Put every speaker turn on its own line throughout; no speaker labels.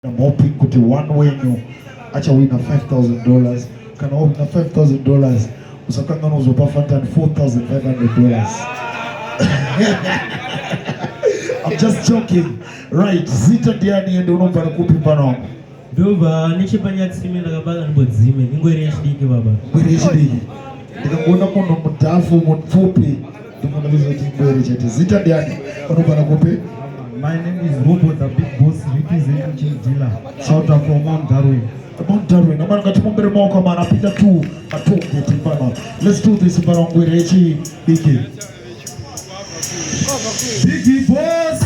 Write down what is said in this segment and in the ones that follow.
I'm hoping kuti one wenyu achawina 5000 dollars kana wawina 5000 dollars usakangana kuzopa fantan 4500 dollars I'm just joking right zita ndiani ende unobva nekupi mfana wangu ndobva nechepanyatsime ndakabaka ndimbodzime ingwere yechidiki baba ingwere yechidiki ndikakuona munhu mudhafu mupfupi Ndimwanarizoti Ngwere chete. Zita ndiani? Unogara kupi? My name is Robo the Big Boss representing Chief Dealer out of Mount Darwin. Mount Darwin. Amana ngati mumbere maoko amana apinda tu matonge timbana. Let's do this mbara Ngwere echi Biggie. Biggie Boss.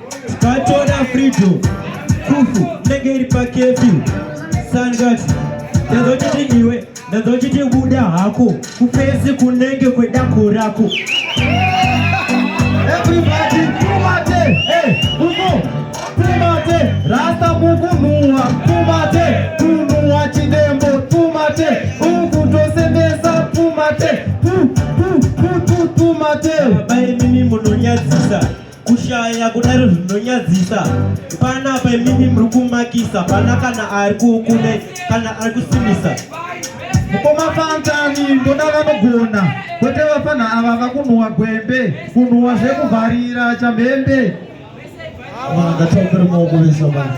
Tikatora freedom kufu inenge iri pakefi sangati ndazochiti iwe ndazochiti buda hako kufesi kunenge kwedako rako everybody kumate hey, umo kumate rasta kukunhuwa kumate kunhuwa chidembo kumate ukutosemesa kumate pu pu pu pu kumate baba imimi munonyadzisa kushaya kudaro zvinonyadzisa pana pemimi muri kumakisa pana kana ari kukune kana ari kusimisa mukoma fantani ndoda vanogona kwete vafana ava vakunhuwa gwembe kunhuwa zvekuvharira chamhembe vanhu ngatongere maoko vese vanhu